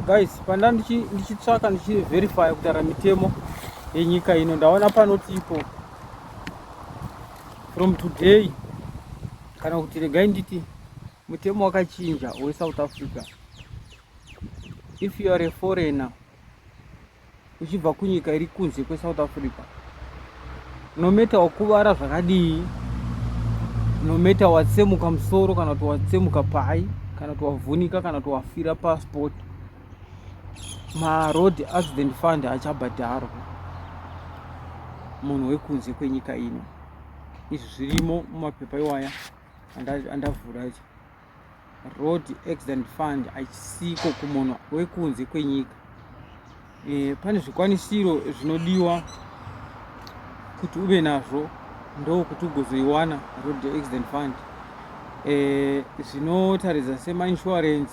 guys panda ndichitsvaka ndichiverifya kutara mitemo yenyika ino ndaona panoti ipo from today kana kuti regai nditi mutemo wakachinja wesouth africa if you are a foreigner uchibva kunyika iri kunze kwesouth africa nometa wakuvara zvakadii nometa watsemuka musoro kana kuti watsemuka pai kana kuti wavhunika kana kuti wafira pasport maroad accident fund achabhadharwa munhu wekunze kwenyika ino izvi zvirimo mumapepa iwaya andavhura icho road accident fund achisiko kumunhu wekunze kwenyika e, pane zvikwanisiro zvinodiwa kuti ube nazvo ndokuti ugozoiwana road accident fund e, zvinotaridza e, semainsurance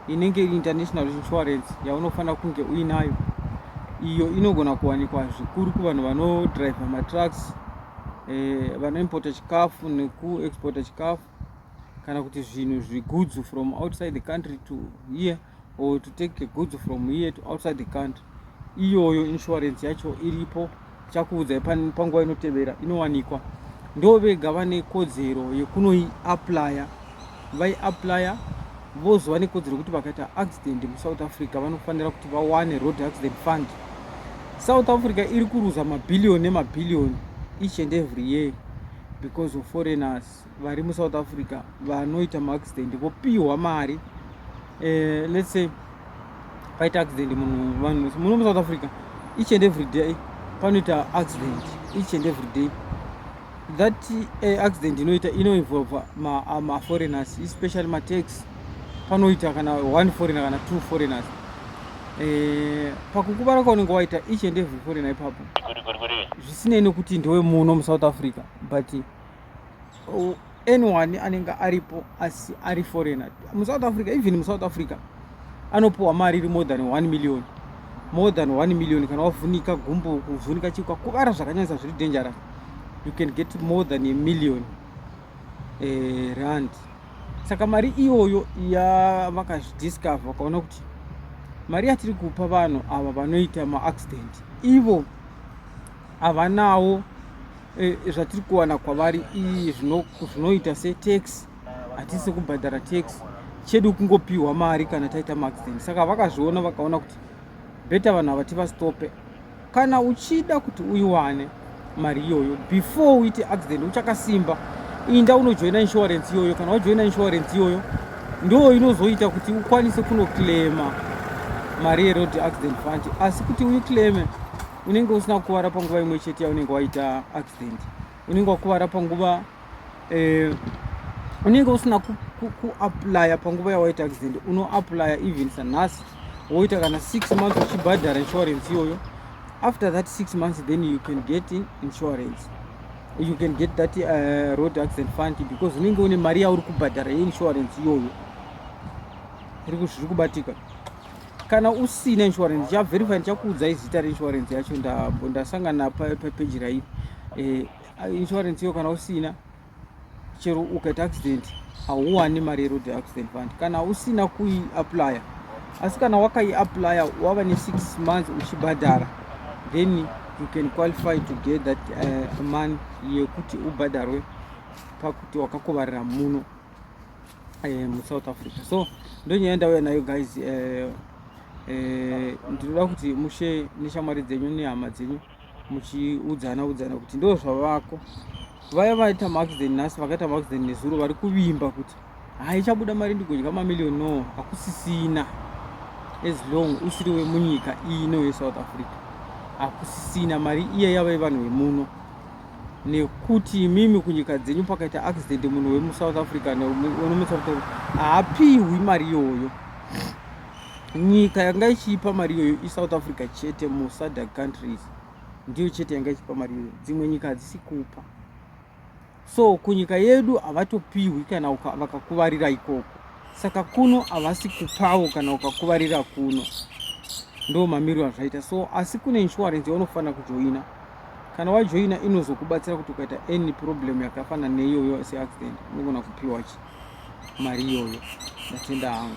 inenge iri international insurance yaunofanira kunge uinayo iyo inogona kuwanikwa zvikuru kuvanhu vanodriver matrucks e, vanoimporta chikafu nekuexporta chikafu kana kuti zvinhu zvigoods from outside the country to here or to take goods from here to outside the country iyoyo insurance yacho iripo chakuudzai panguva inotevera inowanikwa ndo vega vane kodzero yekunoiaplya vaiaplya vozova nekodzero yekuti vakaita accident musouth africa vanofanira kuti vawane road accident fund south africa iri kuruza mabhiliyoni nemabhiliyoni each and every year because of foreigners vari musouth africa vanoita maaccident vopihwa mari eh, let's say paita accident munhu vanhu muno musouth africa each and every day panoita accident each and every day that uh, accident inoita inoinvolva maforeigners ma especially matax panoita kana one foreigner kana two foreigners eh, pakukuvara kwaunenge waita each and every foreigner ipapo zvisinei nekuti ndewe muno musouth africa but anyone anenge aripo asi ari foreigner musouth africa even musouth africa anopiwa mari iri more than 1 million more than 1 million kana wavhunika gumbo kuvhunika chikwa kuvara zvakanyanyisa zviri dangerous you can get more than a million eh, rand saka mari iyoyo yavakazvidiscover vakaona kuti mari yatiri kupa vanhu ava vanoita maaccident ivo havanawo Eh, zvatiri kuwana kwavari iyi zvinoita setax hatisi kubhadhara tax chedu kungopiwa mari kana taita maaccident saka vakazviona vakaona kuti beta vanhu ava tivastope kana uchida kuti uiwane mari iyoyo before uite accident uchakasimba inda unojoina insurance iyoyo kana wajoina insurance iyoyo ndo inozoita kuti ukwanise kunoclaima mari yeroad accident fund asi kuti uiclaime unenge usina kukuvara panguva imwe chete yaunenge waita accident unenge wakuvara panguva eh, unenge usina kuaplya panguva yawaita accident unoaplya even sanhasi woita kana six months uchibhadhara insurance iyoyo after that six months then you can get in insurance you can get that uh, road accident fund because unenge une mari yauri kubhadhara yeinsurance iyoyo iri kuzviri kubatika kana usina insurance ndichaverify ndichakuudzai zita reinsurance yacho ndambo ndasangana papeji rairi eh, insurance iyo kana usina chero ukaita accident hauwani mari yeroad accident fund kana usina kuiaplya asi kana wakaiaplya wava nesix months uchibhadhara then you can qualify to get that uh, money yekuti ubhadharwe pakuti wakakuvarira muno eh, muSouth Africa so ndonyaya ndauya nayo guys eh, eh, ndinoda kuti mushe neshamwari dzenyu nehama dzenyu muchiudzana udzana kuti ndo zvavako vaya vaita maaccident nhasi vakaita maaccident nezuro vari kuvimba kuti haichabuda mari ndigodya mamillion no hakusisina as long usiri wemunyika ino yesouth africa hakusisina mari iya yavai vanhu vemuno nekuti imimi kunyika dzenyu pakaita accident munhu wemusouth africa nemusautaur haapiwi mari iyoyo nyika yanga ichiipa mari iyoyo isouth africa chete musadak countries ndiyo chete yanga ichipa mari iyoyo dzimwe nyika hadzisi kupa so kunyika yedu havatopiwi kana vakakuvarira ikoko saka kuno havasi kupawo kana ukakuvarira kuno ndo mamiriro azvaita so asi kune insurance yaunofanira kujoina Kana wajoina inozokubatsira kuti ukaita any problem yakafana neiyoyo seaccident unogona kupiwa chi mari iyoyo. Ndatenda hangu.